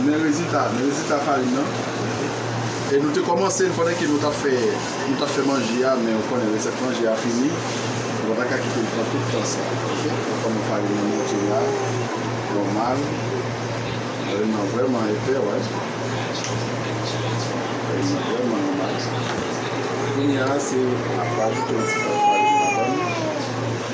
Men rezilta, men rezilta farin nan. E nou te kòmanse l pandan ke nou t ap fè, nou t ap fè manje a, men ou konnen resèt manje a fini, nou pa ta ka kite l pran tout tan sa. Ok, nou konnen farin nan monte la, nòmal, farin nan vrèman epè, wè. Farin nan vrèman nòmal. Kounye a se, n ap rajoute yon ti pòt farin ladan l.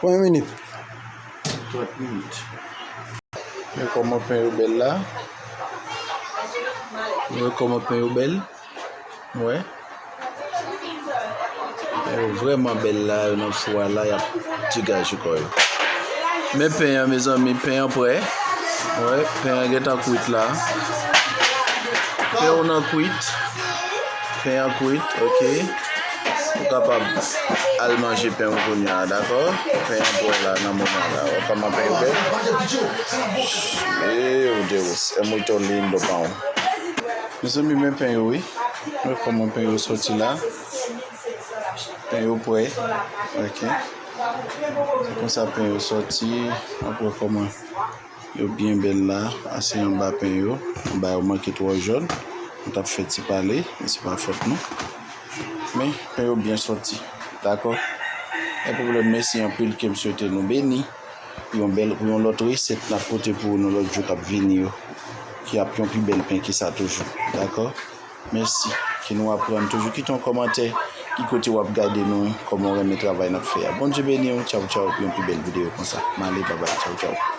Konbyen minit? 30 minit. Mwen kòman pen yo bèl la. Mwen kòman pen yo bèl. Mwen. Pen yo vreman bèl la. Yo nan fwa la. Yap digaj yo kòy. Men pen yon mezan mi. Pen yon pre. Mwen. Pen yon gen tan kwit la. Pen yon nan kwit. Pen an kwit ok ou kapab al manje pen ou kounye a dakò pen an pwè la nan moman la wè kòman pen yo bèl eww deus é muito lindo pão mezanmi men pen yo wi wè kòman pen yo sòti la pen yo pwè ok se konsa pen yo sòti ap wè kòman Yo byen bèl la a se anba pen yo anba yo manke twò jòn nou tap fè ti pale men se pa fòt nou men pen yo byen sòti dakò pa pwoblèm mèsi anpil kem swete nou beni pou yon bèl pou yon lòt resèt nap pote pou nou lòt jou kap vini yo ki ap yon pi bèl pen ke sa toujou dakò mèsi ke nou aprann toujou kite yon kòmantè ki kote wap gade nou kòman ou renmen travay nap fè a Bondye beniw tchawtchaw pou yon pi bèl videyo konsa male babay tchawtchaw.